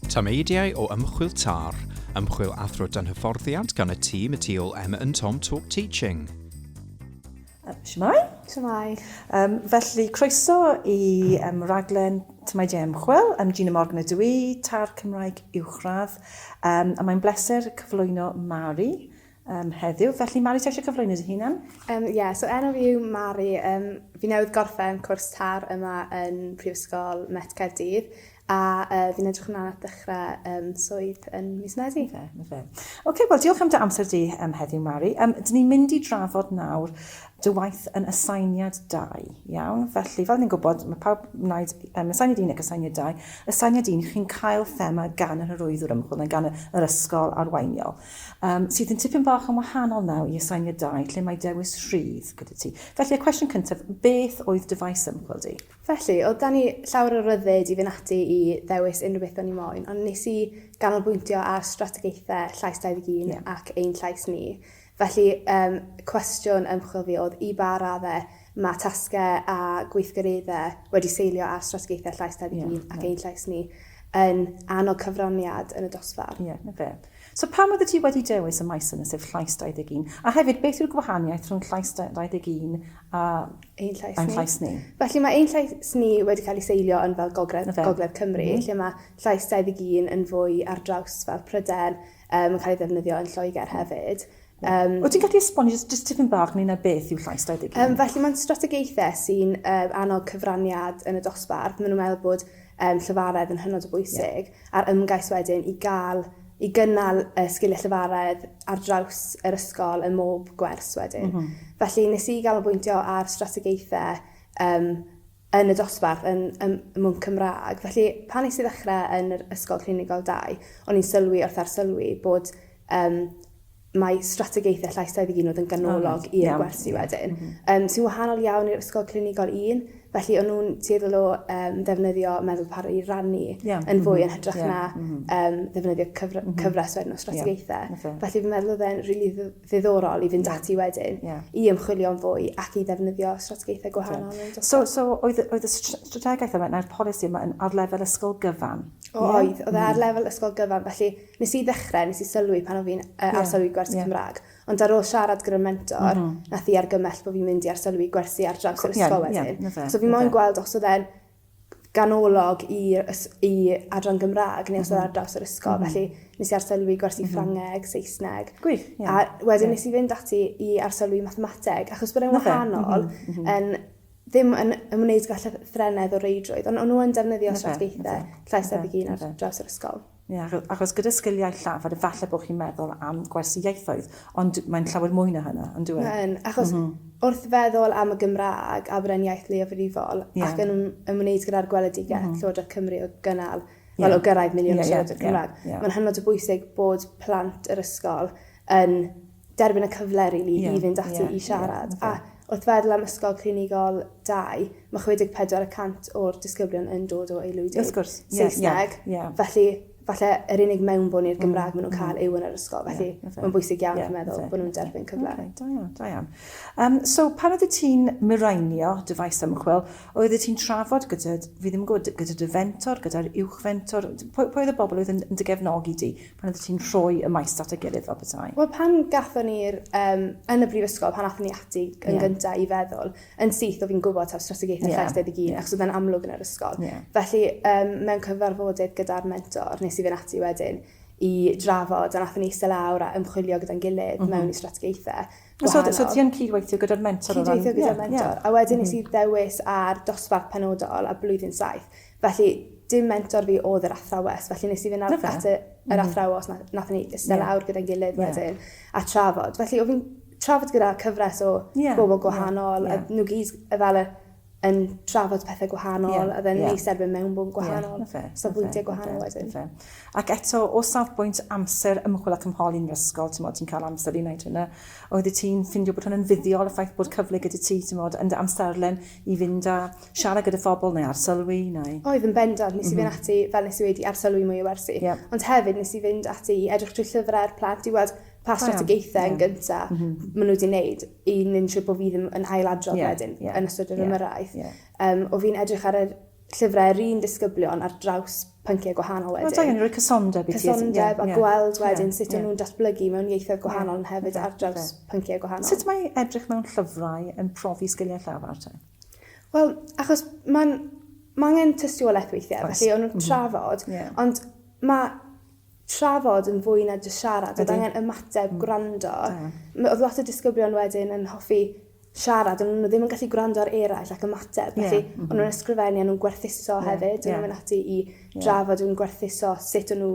Tameidiau o ymchwil TAR, ymchwil athro dan hyfforddiant gan y tîm y tu ôl Emma and Tom Talk Teaching. Shwmai? Shwmai. Um, felly, croeso i um, raglen Tymaidiau Ymchwil. Am Gina Morgan ydw i, tar Cymraeg uwchradd. Um, a mae'n bleser cyflwyno Mari, Yym heddiw, felly Mari ti eisiau cyflwyno dy hunan? Um, yeah, so enw fi yw Mari. Um, fi newydd gorffen cwrs tar yma yn Prifysgol Met Caerdydd a uh, fi'n edrych ymlaen at ddechrau um, swydd yn mis Medi. Fe, fe. OK, wel diolch am dy amser di um, heddiw, Mari. Um, dyn ni'n mynd i drafod nawr dy waith yn asainiad 2, iawn? Felly, fel ni'n gwybod, mae pawb wneud um, asainiad 1 ac asainiad 2. Asainiad 1, chi'n cael thema gan yr hyrwyddwr ymchwil neu gan yr ysgol arweiniol. Yym, sydd yn tipyn bach yn wahanol naw i asainiadau lle mae dewis rhydd gyda ti. Felly, y cwestiwn cyntaf, beth oedd dy faes ymchwil di? Felly, oedd dan ni llawer o ryddid i fynd ati i ddewis unrhyw beth o'n i moyn, ond nes i ganolbwyntio ar strategaethau Llais 21 yeah. ac ein llais ni. Felly, um, cwestiwn ymchwil fi oedd i ba raddau Mae tasgau a gweithgareddau wedi seilio ar strategaethau Llais 21 ac Ein Llais Ni yn annog cyfraniad yn y dosbarth. Ie, 'na fe. So pam oeddet ti wedi dewis y maes yna, sef Llais 21? A hefyd, beth yw'r gwahaniaeth rhwng Llais 21 a Ein Llais Ni? Llais Ni? Felly mae Ein Llais Ni wedi cael ei seilio yn fel gogledd, gogledd Cymru, lle mae Llais 21 yn fwy ar draws fel Prydain, Mae'n cael ei ddefnyddio yn Lloegr hefyd. Um, Wyt ti'n gallu esbonio jyst, jyst tipyn bach neu na beth yw llais 21? Um, felly mae'n strategaethau sy'n um, annog cyfraniad yn y dosbarth. Maen nhw'n meddwl bod um, llyfaredd yn hynod o bwysig yeah. a'r ymgais wedyn i gael i gynnal uh, sgiliau llyfaredd ar draws yr ysgol ym mhob gwers wedyn. Mm -hmm. Felly nes i gael o bwyntio ar strategaethau um, yn y dosbarth yn ym Mwng Cymraeg. Felly, pan nes i ddechrau yn yr Ysgol Clinigol 2, o'n i'n sylwi wrth arsylwi bod um, mae strategaethau llais 21 oedd yn ganolog oh, i'r gwersi wedyn, mm -hmm. um, sy'n wahanol iawn i'r Ysgol Clinigol 1. Felly, o'n nhw'n tueddol o um, ddefnyddio meddwl par i rannu yeah. yn fwy mm -hmm. yn hytrach yeah. na um, ddefnyddio cyfr mm -hmm. cyfres wedyn o strategaethau. Yeah. Felly, fi'n meddwl oedd e'n rili really ddiddorol i fynd ati wedyn yeah. i ymchwilio'n fwy ac i ddefnyddio strategaethau gwahanol. Yeah. So, so oedd, oedd y strategaeth yma neu'r polisi yma yn ar lefel ysgol gyfan? O, yeah. oedd, oedd e ar mm. lefel ysgol gyfan, felly nes i ddechrau, nes i sylwi pan oedd fi'n uh, arsylwi yeah. gwersi yeah. Cymraeg, ond ar ôl siarad gyda'r mentor, mm -hmm. nath i argymell bod fi'n mynd i arsylwi gwersi ar draws yr ysgol yeah, wedyn. Yeah, so fi moyn gweld os oedd e'n ganolog i i adran Gymraeg neu os oedd ar draws yr ysgol. Mm. Felly nes i arsylwi gwersi mm -hmm. Ffrangeg, Saesneg. Gwych, ie. Yeah. A wedyn yeah. nes i fynd ati i arsylwi mathemateg, achos bod e'n wahanol, mm -hmm. yn ddim yn ymwneud gyda llythrenedd o reidrwydd, ond o'n nhw'n defnyddio strategaethau llais ar ddeg un ar draws yr ysgol. Ie, achos gyda sgiliau llafar, efallai bod chi'n meddwl am gwersi ieithoedd, ond mae'n llawer mwy na hynna, yn dyw e? Mae'n, achos mm -hmm. wrth feddwl am y Gymraeg a bod e'n iaith leiafrifol yeah. ac yn ymwneud gyda'r gweledigaeth mm -hmm. Llywodraeth Cymru o gynnal, yeah. wel o gyrraedd miliwn yeah, o siaradwyr yeah, Cymraeg, yeah, yeah. mae'n hynod o bwysig bod plant yr ysgol yn derbyn y cyfle rili i fynd ati i siarad. A wrth feddwl am Ysgol Clinigol dau, mae 64 y cant o'r disgyblion yn dod o aelwydydd Saesneg, felly falle yr unig mewnbwn i'r Gymraeg maen nhw'n cael yw yn yr ysgol, felly mae'n bwysig iawn fi'n meddwl bod nhw'n derbyn cyfle. Da iawn, da iawn. Um, so, pan oeddet ti'n miraenio dy faes ymchwil, oeddet ti'n trafod gyda, fi ddim yn gwybod, gyda dy fentor, gyda'r uwch fentor, pwy, pwy oedd y bobl oedd yn, yn dy gefnogi di? Pan oeddet ti'n rhoi y maes at ei gilydd fel petai? Wel, pan gathon ni'r, um, yn y brifysgol, pan athon ni ati yn yeah. gyntaf i feddwl, yn syth o fi'n gwybod taw strategaethau yeah. llais debyg un, yeah. achos oedd amlwg yn yr ysgol. Yeah. Felly, um, mewn cyfarfodydd gyda'r mentor, nes i fynd ati wedyn, i drafod, a nath ni eistedd lawr a ymchwilio gyda'n gilydd mm -hmm. mewn i strategaethau. So, so ti'n cydweithio gyda'r mentor? Cydweithio gyda'r yeah, mentor. Yeah. A wedyn mm -hmm. nes i mhm. ddewis ar dosbarth penodol a blwyddyn saith. Felly, dim mentor fi oedd yr athrawes, felly nes i fynd at y, yr mm-hmm. athrawes, na, nath ni iste yeah. lawr gyda'n gilydd yeah. wedyn, a trafod. Felly, o fi'n trafod gyda cyfres o yeah. bobl gwahanol, yeah. a nhw gyd y fel yn trafod pethau gwahanol, yeah. a dden yeah. ni sefyd mewn bwm gwahanol, yeah. okay. safbwyntiau okay. gwahanol okay. wedyn. Okay. Ac eto, o safbwynt amser ymchwil ac ymholi'n ysgol, ti'n modd, ti'n cael amser i wneud hynna, oedd ti'n ffindio bod hwnna'n fuddiol y ffaith bod cyfle gyda ti, ti'n modd, yn dy amserlen i fynd a siarad gyda phobl neu arsylwi neu... Oedd yn bendant, nes i fynd ati, fel nes i wedi, i arsylwi mwy o wersi. Ond hefyd nes i fynd ati i edrych trwy llyfrau'r plant i weld pa strategaethau yn gynta ma' nhw wedi neud i nensio bo fi ddim yn ail adrodd wedyn yn ystod yr ymyrraeth. O fi'n edrych ar yr llyfrau yr un disgyblion ar draws pynciau gwahanol wedyn. Mae angen rhoi cysondeb i ti. Cysondeb a gweld wedyn sut o'n nhw'n datblygu mewn ieithoedd gwahanol yn hefyd ar draws pynciau gwahanol. Sut mae edrych mewn llyfrau yn profi sgiliau llafar te? Wel, achos mae'n ma angen tystiolaeth weithiau, Oes. felly o'n nhw'n mhm. trafod, yeah. ond mae trafod yn fwy na dy siarad, oedd angen ymateb, mm. gwrando. Oedd lot o disgyblion wedyn yn hoffi siarad, ond o'n nhw ddim yn gallu gwrando ar eraill ac ymateb. Felly, yeah. o'n nhw'n ysgrifennu, o'n nhw'n gwerthuso yeah. hefyd, o'n yeah. nhw'n mynd ati i drafod, yeah. o'n gwerthuso sut o'n nhw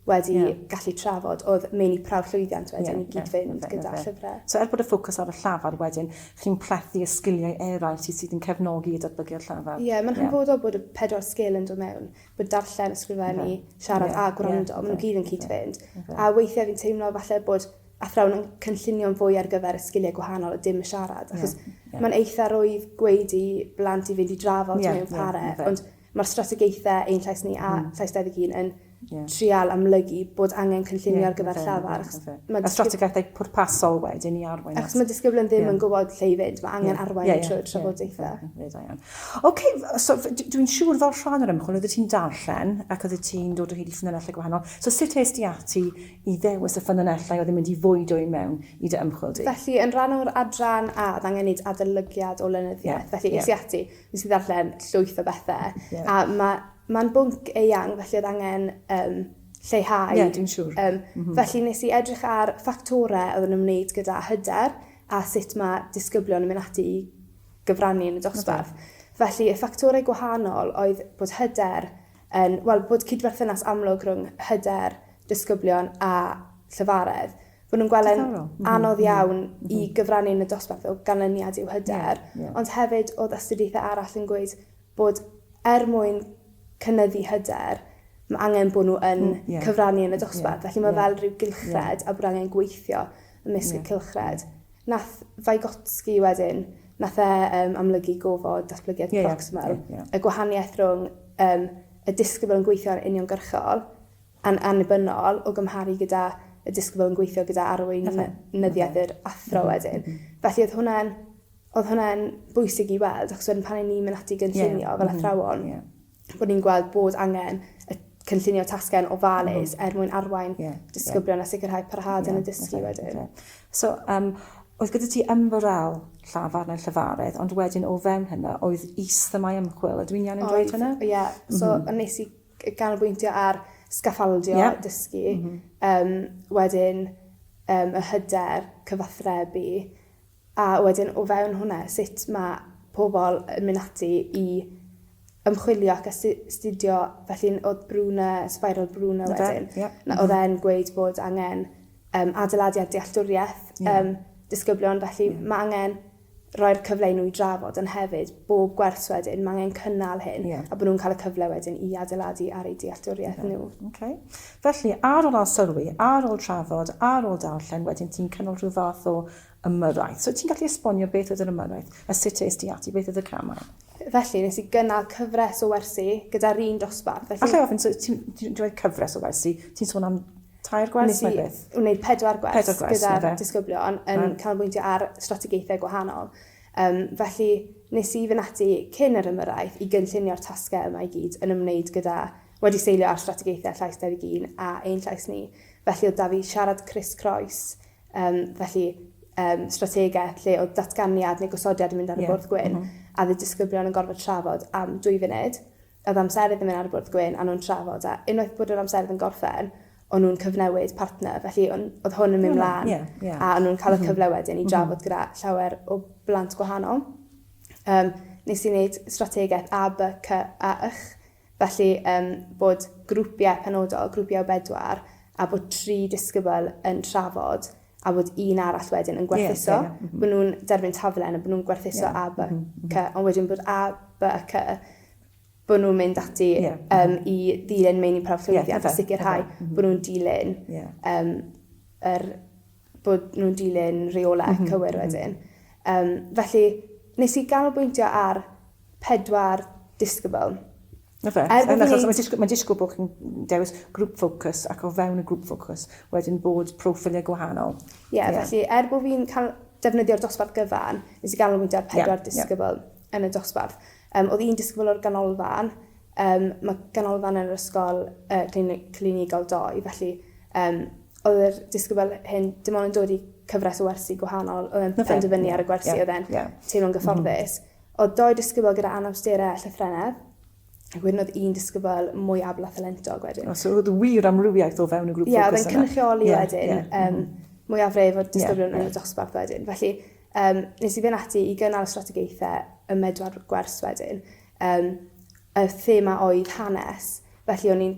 wedi yeah. gallu trafod oedd meini prawf llwyddiant wedyn yeah, i gyd yeah, yeah, gyda yeah. llyfrau. So er bod y ffocws ar y llafar wedyn, chi'n plethu y sgiliau eraill sydd sydd yn cefnogi i datblygu'r llafar. Ie, yeah, mae'n yeah. hanfodol bod y pedwar sgil yn dod mewn, bod darllen, ysgrifennu, yeah. siarad yeah. a gwrando, yeah. maen nhw gyd yn cyd-fynd. Yeah. A weithiau fi'n teimlo falle bod athrawon yn cynllunio'n fwy ar gyfer y sgiliau gwahanol a dim y siarad, achos yeah, yeah. mae'n eitha rwydd gweud i blant i fynd i drafod yeah, mewn pare, yeah, ond mae'r strategaethau ein llais ni a mm. llais 21 yn yeah. trial amlygu bod angen cynllunio yeah, ar gyfer llafar. Mae a strategaethau pwrpasol wedyn i arwain. Achos mae disgyblion ddim yeah. yn gwybod lle i fynd, mae angen yeah. arwain yeah, yeah, trwy'r trafodaethau. Yeah, yeah, yeah. OK, so dwi'n siŵr fel rhan o'r ymchwil, oeddet ti'n darllen ac oeddet ti'n dod o hyd i ffynonellau gwahanol. So sut eist ti ati i ddewis y ffynonellau oedd yn mynd i fwydo i mewn i dy ymchwil di. Felly, yn rhan o'r adran A, oedd angen neud adolygiad o lenyddiaeth. Felly, es i ati, nes i ddarllen llwyth o bethe. A ma, ma'n bwnc eang, felly oedd angen yym lleihau. Ie, dwi'n siŵr. Yym, felly nes i edrych ar ffactore oedd yn ymwneud gyda hyder a sut ma disgyblion yn mynd ati i gyfrannu yn y dosbarth. Felly, y ffactore gwahanol oedd bod hyder Yn, wel, bod cydberthynas amlwg rhwng hyder disgyblion a llefaredd. Fod nhw'n gweld e'n anodd iawn i gyfrannu yn y dosbarth o ganlyniad i'w hyder. Ond hefyd oedd astudiaethau arall yn gweud bod er mwyn cynyddu hyder, mae angen bod nhw yn cyfrannu yn y dosbarth. Felly mae fel rhyw gylchred a bod angen gweithio ymysg y cylchred. Nath Vygotsky wedyn, nath e um, amlygu gofod datblygiad yeah, proximal, yeah, yeah. y gwahaniaeth rhwng um, y disgybl yn gweithio'n uniongyrchol a'n annibynnol o gymharu gyda y disgybl yn gweithio gyda arweinyddiaeth yr athro mhm, wedyn. Mhm. Felly oedd hwnna'n oedd hwnna'n bwysig i weld, achos wedyn pan ni'n mynd ati gynllunio yeah. fel mhm. athrawon, yeah. bod ni'n gweld bod angen y cynllunio tasgen ofalus mm. er mwyn arwain yeah, disgyblion yeah. a sicrhau parhad yeah, yn y dysgu okay, wedyn. Okay. So, um, oedd gyda ti ymwrael llafar neu llyfaredd, ond wedyn o fewn hynna, oedd is-themau ymchwil. Ydw i'n iawn yn dweud hynna? Ie, yeah. so mm -hmm. nes i ganolbwyntio ar sgaffaldio yeah. dysgu, mm -hmm. um, wedyn um, y hyder cyfathrebu, A wedyn o fewn hwnna, sut mae pobl yn mynd ati i ymchwilio ac astudio, felly oedd Bruna, Spiral Bruna wedyn, oedd e'n gweud bod angen um, adeiladu ar dealltwriaeth yeah. um, disgyblion, felly yeah. mae angen roi'r cyfle i nhw i drafod, ond hefyd bob gwers wedyn, mae angen cynnal hyn, yeah. a bod nhw'n cael y cyfle wedyn i adeiladu ar ei dealltwriaeth okay. nhw. Okay. Felly, ar ôl sylwi, ar ôl trafod, ar ôl darllen, wedyn ti'n cynnal rhyw fath o Ymyrraeth. So ti'n gallu esbonio beth oedd yr ymyrraeth, a sut es di ati, beth oedd y camau? Felly, nes i gynnal cyfres o wersi gyda'r un dosbarth. Felly... Alla i ofyn, so ti'n dweud cyfres o wersi, ti'n sôn am tair gwers neu beth? Nes i wneud pedwar gwers, pedwar gwers gyda'r disgyblion yn right. canolbwyntio ar strategaethau gwahanol. Um, felly, nes i fynd ati cyn yr ymyrraeth i gynllunio'r tasgau yma i gyd yn ymwneud gyda wedi seilio ar strategaethau llais Dewi Gîn a ein llais ni. Felly oedd da fi siarad Chris Croes Yym, felly, um, strategaeth lle oedd datganiad neu gosodiad yn mynd ar y yeah. bwrdd gwyn, mm -hmm. a dde disgyblion yn gorfod trafod am dwy funud. Oedd amserydd yn mynd ar y bwrdd gwyn, a nhw'n trafod, a unwaith bod yr amserydd yn gorffen, o'n nhw'n cyfnewid partner, felly on, oedd hwn yn mynd mlaen, yeah, yeah. a o'n nhw'n cael y mhm. cyfle wedyn i mhm. drafod gyda llawer o blant gwahanol. Um, nes i wneud strategaeth A, B, C a Ych, Felly, yym, bod grwpiau penodol, grwpiau o bedwar, a bod tri disgybl yn trafod, a bod un arall wedyn yn gwerthuso. Yeah, yeah, yeah. Bod nhw'n derbyn taflen a bod nhw'n gwerthuso yeah. A, B, mm-hmm, mm-hmm. C, ond wedyn bod A, B a C bod nhw'n mynd ati yeah. um, i ddilyn meini prawf llwyddiant yeah, a sicrhau mm -hmm. bod nhw'n dilyn yeah. um, yr bod nhw'n dilyn rheolau mm -hmm. cywir mhm. wedyn. Um, felly, nes i ganolbwyntio ar pedwar disgybl. Na fe, er yn achos mae'n disgwyl, bod chi'n dewis grŵp ffocws ac o fewn y grŵp ffocws wedyn bod proffiliau gwahanol. Ie, yeah, yeah. felly er bod fi'n cael defnyddio'r dosbarth gyfan, nes i ganolbwyntio ar pedwar yeah, disgybl yeah. yn y dosbarth. Yym, oedd un disgybl o'r Ganolfan, yym, ma' Ganolfan yn yr Ysgol yy Clini- Clinigol doi, felly yym, oedd yr disgybl hyn dim ond yn dod i cyfres o wersi gwahanol, oedd e'n Oce. penderfynu ar y gwersi, Ie, ie. oedd e'n teimlo'n gyfforddus. Oedd dou disgybl gyda anawstere a llythrennedd, ac wedyn oedd un disgybl mwy abl a thalentog wedyn. O, so oedd wir amrywiaeth o fewn y grŵp ffocws yna? Ie, oedd e'n cynrychioli wedyn, yym, mwyafrif o'r disgyblion yn y dosbarth wedyn, felly, Yym, nes i fynd ati i gynnal strategaethau ym medwar gwers wedyn. Yym, y thema oedd hanes, felly o'n i'n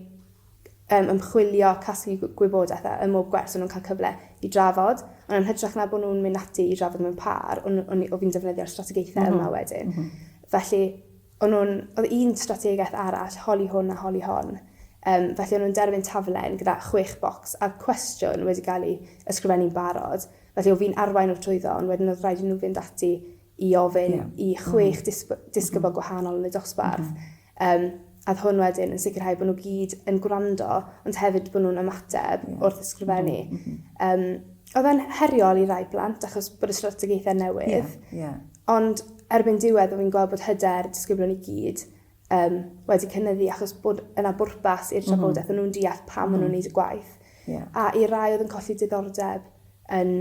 um, ymchwilio, casglu gwybodaeth a ym mhob gwers o'n nhw'n cael cyfle i drafod. Ond yn hytrach na bod nhw'n mynd ati i drafod mewn par, o'n, o'n, o'n fi'n defnyddio'r strategaethau mm -hmm. yma wedyn. Mm -hmm. Felly, o'n nhw'n, oedd un strategaeth arall, holi hwn a holi hon. Um, felly, o'n nhw'n derfyn taflen gyda chwech bocs a cwestiwn wedi cael ei ysgrifennu'n barod. Felly o fi'n arwain o'r trwyddo ond wedyn oedd rhaid i nhw fynd ati i ofyn i chwech disgybl gwahanol yn y dosbarth yym a oedd hwn wedyn yn sicrhau bod nhw gyd yn gwrando ond hefyd bod nhw'n ymateb wrth ysgrifennu. Yym oedd e'n heriol i rai plant achos bod y strategaethau newydd ond erbyn diwedd o fi'n gweld bod hyder disgyblion i gyd yym, wedi cynyddu achos bod yna bwrpas i'r trafodaeth, o'n nhw'n deall pam o'n nhw'n wneud y gwaith. A i rai oedd yn colli diddordeb yn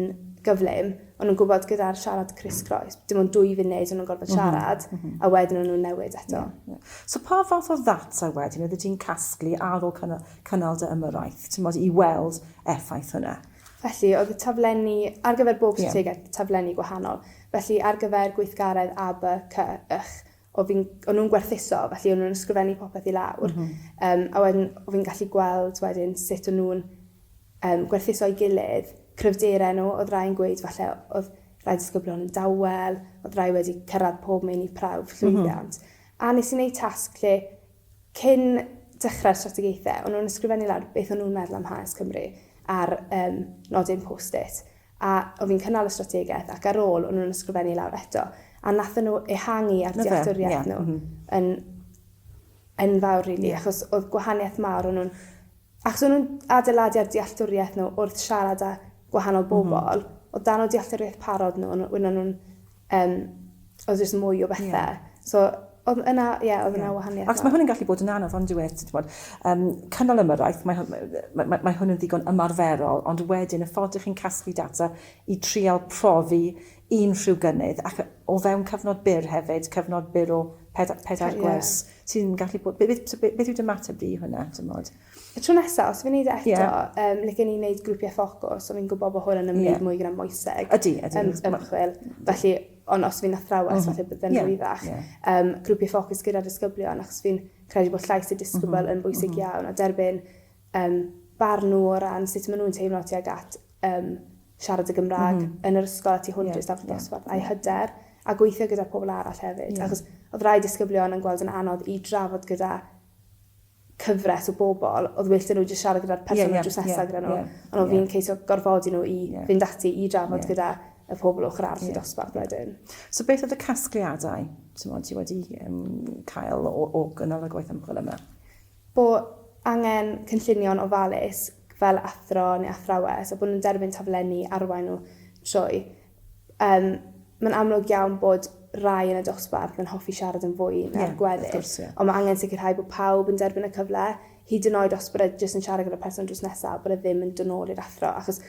gyflym, o'n nhw'n gwybod gyda'r siarad crisscroes, dim ond dwy funud o'n nhw'n gorfod siarad, a wedyn o'n nhw'n newid eto. So pa fath o ddata wedyn oeddet ti'n casglu ar ôl cynnal dy ymyrraeth, timod, i weld effaith hwnna? Felly, oedd y taflenni, ar gyfer bob strategaeth, taflenni gwahanol. Felly, ar gyfer gweithgaredd A, B, C, Ych, o fi'n... o'n nhw'n gwerthuso, felly o'n nhw'n ysgrifennu popeth i lawr. Yym, a wedyn o fi'n gallu gweld wedyn sut o'n nhw'n um, gwerthuso'i gilydd, cryfderau nhw, oedd rhai'n gweud falle oedd rhai disgyblion yn dawel, oedd rhai wedi cyrraedd pob meini prawf llwyddiant. Mm -hmm. A nes i wneud tasg lle cyn dechrau'r strategaethau, o'n nhw'n ysgrifennu lawr beth o'n nhw'n meddwl am Hanes Cymru ar um, nodyn post-it. A o fi'n cynnal y strategaeth ac ar ôl o'n nhw'n ysgrifennu lawr eto a wnaethon nhw ehangu ar dealltwriaeth nhw yn enfawr rili yeah. achos oedd gwahaniaeth mawr o'n nhw'n achos o'n nhw'n adeiladu ar dealltwriaeth nhw wrth siarad â gwahanol mhm. bobl mm -hmm. o dan o dealltwriaeth parod nhw o'n nhw'n Yym, oedd jyst mwy o bethe. Ie. So, oedd yna, ie, oedd yna wahaniaeth mawr. Achos mae hwn yn gallu bod yn anodd, on'd yw e, ti 'di bod, yym, cynnal ymyrraeth, mae hwn, mae, mae, mae hwn yn ddigon ymarferol, ond wedyn y ffordd dych chi'n casglu data i trial profi unrhyw gynnydd, ac o fewn cyfnod byr hefyd, cyfnod byr o pedair, pedair gwers, ti'n gallu bod, beth, beth, beth yw dy mateb di i hwnna, t'mod? Y tro nesaf, os fi'n neud e eto, yeah. um, like ni'n neud grwpiau ffocws, ond fi'n gwybod bod hwn yn ymwneud yeah. mwy gyda moeseg. Ydy, ydy. Um, ymchwil. Felly, ond os fi'n athrawes, mm -hmm. falle byddai'n yeah. rwyddach. Yeah. Um, grwpiau ffocws gyda disgyblion, achos fi'n credu bod llais y disgybl mm -hmm. yn bwysig mm -hmm. iawn, a derbyn um, barn nhw o ran sut maen nhw'n teimlo tuag at um, siarad y Gymraeg mm -hmm. yn yr ysgol a tu hwnt yeah. i'r stafell dosbarth, a'i hyder, a gweithio gyda pobl arall hefyd. Yeah. Achos oedd rai disgyblion yn gweld yn anodd i drafod gyda cyfres o bobl oedd well 'da nhw jyst siarad gyda'r person oedd drws nesa gyda nhw ond oedd hi'n ceisio gorfodi nhw i fynd ati i drafod gyda y pobl ochr arall y dosbarth wedyn. So beth oedd y casgliadau ti wedi cael o gynnal y gwaith ymchwil yma? Bo angen cynllunio'n ofalus fel athro neu athrawes a bod nhw'n derbyn taflenni arwain nhw trwy. Yym, mae'n amlwg iawn bod rai yn y dosbarth yn hoffi siarad yn fwy na'r gweddill... Ie, wrth gwrs, ie. ...ond mae angen sicrhau bod pawb yn derbyn y cyfle, hyd yn oed os bod e jyst yn siarad gyda'r person drws nesa, bod e ddim yn dod nôl i'r athro, achos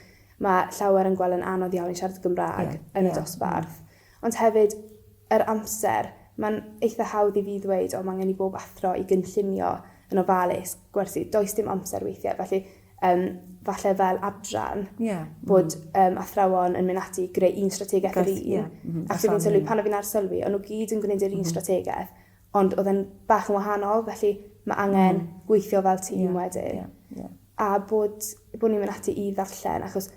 mae llawer yn gweld yn anodd iawn i siarad y Gymraeg... Ie. ...yn y dosbarth. Ond hefyd, yr amser, mae'n eitha hawdd i fi ddweud, o, mae angen i bob athro i gynllunio yn ofalus, gwersi, does dim amser weithiau, felly... um, falle fel adran, yeah. bod um, athrawon yn mynd ati i greu un strategaeth yr un. Yeah. Mm -hmm. Ac fi'n sylwi, pan o fi'n ar sylwi, o'n nhw gyd yn gwneud yr un mm -hmm. strategaeth, ond oedd e'n bach yn wahanol, felly mae angen mm. gweithio fel tîm yeah. wedyn. Yeah. Yeah. A bod, bod ni'n mynd ati i ddarllen, achos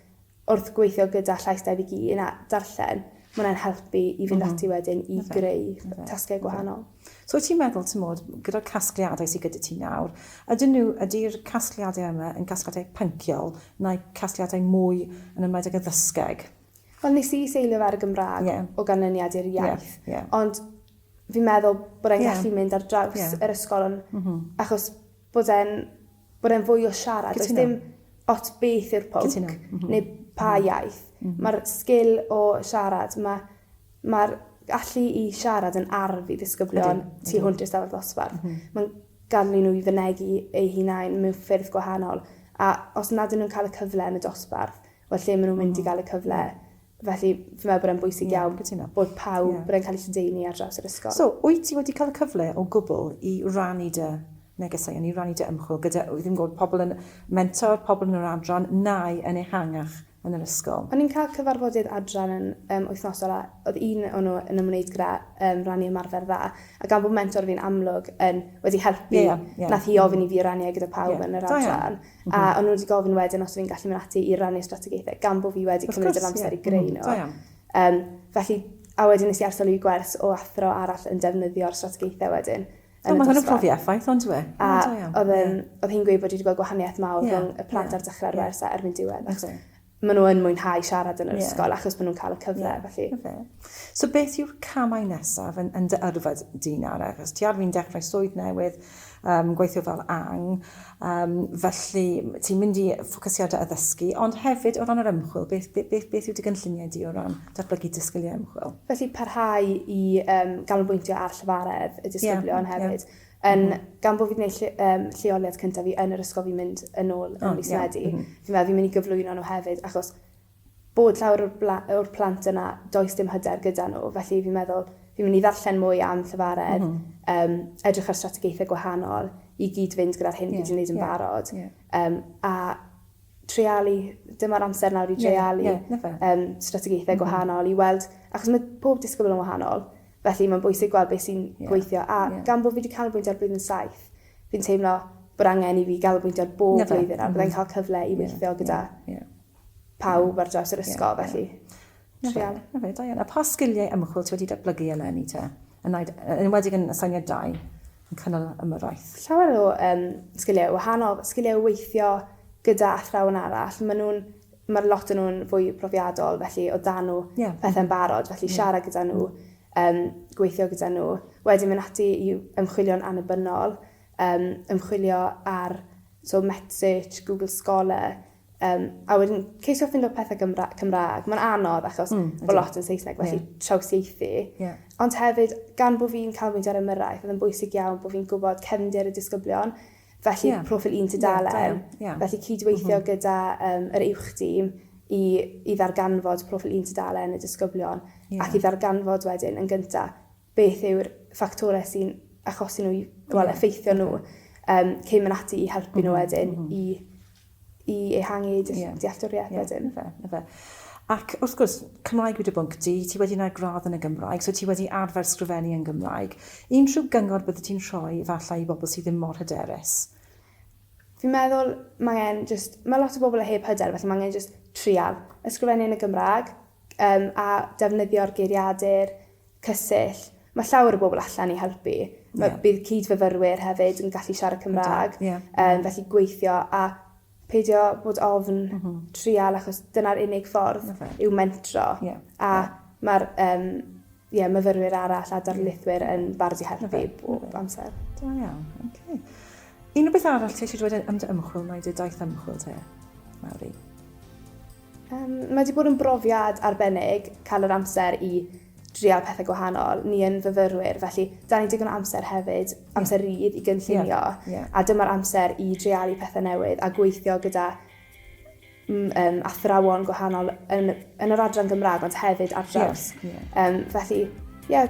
wrth gweithio gyda Llais Dewi Gi yn darllen, ma' hwnna'n helpu i fynd ati wedyn i greu tasgau gwahanol. So wyt ti'n meddwl, timod, gyda'r casgliadau sydd gyda ti nawr, ydyn nhw, ydy'r casgliadau yma yn casgliadau pynciol neu casgliadau mwy yn ymwneud ag addysgeg? Wel, nes i seilio fe ar y Gymraeg o ganlyniad i'r iaith, ond fi'n meddwl bod e'n gallu mynd ar draws yr ysgol achos bod e'n bod e'n fwy o siarad. Cytuno. Does dim ots beth yw'r pwnc. Cytuno. Mm -hmm. Neu pa mm -hmm. iaith. Mm -hmm. Mae'r sgil o siarad, mae mae'r allu i siarad yn arf i ddisgyblion ydy, tu hwnt i'r stafell ddosbarth. Mm -hmm. Mae'n gadw nhw i fynegu eu hunain mewn ffyrdd gwahanol. A os nad ydyn nhw'n cael y cyfle yn y dosbarth, wel lle maen nhw'n mynd mm -hmm. i mhm. gael y cyfle? Felly, fi'n meddwl bod e'n bwysig iawn yeah, bod pawb, yeah. bod e'n cael ei lledaenu ar draws yr ysgol. So, wyt ti wedi cael y cyfle o gwbl i rannu dy negeseuon, i rannu dy ymchwil gyda, ddim gwybod, pobl yn mentor, pobl yn yr adran, nai yn ehangach yn yr ysgol? O'n i'n cael cyfarfodydd adran yn um, wythnosol a oedd un o'n nhw yn ymwneud gyda um, rannu ymarfer dda. A gan bod mentor fi'n amlwg yn wedi helpu, yeah, yeah. nath hi ofyn i fi rannu e gyda pawb yeah. yn yr adran. A o'n nhw wedi gofyn wedyn os o'n i'n gallu mynd ati i rannu strategaethau, gan bod fi wedi cymryd yr amser i greu nhw. Um, felly, a wedyn nes i arsolu i gwers o athro arall yn defnyddio'r strategaethau wedyn. O, mae hwn yn profi effaith, ond dwi. A oedd hi'n gweud bod wedi gweld gwahaniaeth mawr rhwng y plant ar dechrau'r wers a erbyn diwedd. maen nhw yn mwynhau siarad yn yr yeah. ysgol achos maen nhw'n cael y cyfle, yeah. felly. Okay. So beth yw'r camau nesaf yn, yn dy yrfa dyn ar achos ti ar fi'n dechrau swydd newydd, um, gweithio fel ang, um, felly ti'n mynd i ffocysiadau addysgu, ond hefyd o ran yr ymchwil, beth, beth, beth, beth yw dy gynlluniau di o ran datblygu disgyliau ymchwil? Felly parhau i um, ganolbwyntio ar llyfaredd y disgyblion yeah, hefyd. Yeah Yn, gan bod fi wedi gwneud lle, um, lleoliad cyntaf fi yn yr ysgol fi'n mynd yn ôl yn oh, mis yeah. Medi, mm -hmm. fi'n meddwl fi'n mynd i gyflwyno nhw hefyd, achos bod llawer o'r, plant yna, does dim hyder gyda nhw, felly fi'n meddwl fi'n mynd i ddarllen mwy am llyfaredd, mm -hmm. um, edrych ar strategaethau gwahanol i gyd-fynd gyda'r hyn yeah, fi wedi gwneud yn yeah, barod. Yeah. Um, a treialu, dyma'r amser nawr i dreialu... Ie, ie, 'na fe. ...yym strategaethau... M-hm. ...gwahanol i weld, achos ma' pob disgybl yn wahanol, felly ma'n bwysig gweld be' sy'n... Ie. ...gweithio a... Ie. ...gan bo' fi 'di canolbwyntio ar blwyddyn saith, fi'n teimlo bod angen i fi ganolbwyntio ar bob... 'na fe. ...blwyddyn a... M-hm. ...a byddai'n ca'l cyfle i weithio gyda... Ie, ie, ie. ...pawb ar draws yr ysgol... Ie, ie. ...felly. 'Na fe. Treialu. 'Na fe, da iawn. A pa sgiliau ymchwil ti wedi datblygu eleni te? Yn aid- yy yn enwedig yn aseiniad dau? yn cynnal ymyrraeth. Llawer o um, sgiliau wahanol, sgiliau weithio gyda athrawon arall, maen nhw'n mae'r lot yn nhw'n fwy profiadol, felly o dan nhw yeah. pethau'n barod, felly yeah. siarad gyda nhw, um, gweithio gyda nhw. Wedyn mynd ati i ymchwilio'n annibynnol, um, ymchwilio ar so Metsich, Google Scholar, Yym, a wedyn, ceisio ffindo pethe Gymra Cymraeg. Mae'n anodd achos mm, bod lot yn Saesneg, felly yeah. trawsieithu. Yeah. Ond hefyd, gan bod fi'n cael mynd ar ymyrraeth, oedd yn bwysig iawn bod fi'n gwybod cefndir y disgyblion, felly yeah. profil un tudalen, yeah, yeah. felly cydweithio mm -hmm. gyda um, yr uwch dîm i, i ddarganfod profil un tudalen y disgyblion, yeah. ac i ddarganfod wedyn yn gyntaf beth yw'r ffactorau sy'n achosi nhw i, wel, effeithio nhw, um, cyn mynd ati i helpu nhw mhm, wedyn mm -hmm. i, i ehangu eu yeah. dealltwriaeth yeah. wedyn. Fe, fe. Ac wrth gwrs, Cymraeg wedi bwnc di, ti wedi gwneud gradd yn y Gymraeg, so ti wedi arfer sgrifennu yn Gymraeg. Unrhyw gyngor bydde ti'n rhoi falle i bobl sydd ddim mor hyderus? Fi'n meddwl mae angen just, mae lot o bobl a heb hyder, felly mae angen just trial. Ysgrifennu yn y Gymraeg um, a defnyddio'r geiriadur, cysill. Mae llawer o bobl allan i helpu. Mae, yeah. Bydd cyd-fyfyrwyr hefyd yn gallu siarad Cymraeg, yeah. um, felly gweithio a peidio bod ofn mm -hmm. trial achos dyna'r unig ffordd okay. yw mentro. Yeah. A yeah. mae'r um, yeah, myfyrwyr arall a darlithwyr yn barod i helpu okay. bob okay. amser. Da iawn, oce. Okay. Un o beth arall ti eisiau dweud am dy ymchwil, mae dy daith ymchwil te, Mawri? Yym, mae 'di bod yn brofiad arbennig cael yr amser i drial pethau gwahanol. Ni yn fyfyrwyr, felly da ni digon o amser hefyd, amser rydd i gynllunio, yeah, yeah. a dyma'r amser i drialu pethau newydd a gweithio gyda um, athrawon gwahanol yn, yn yr adran Gymraeg, ond hefyd ar draws. Yeah, yeah. Um, felly, ie, yeah,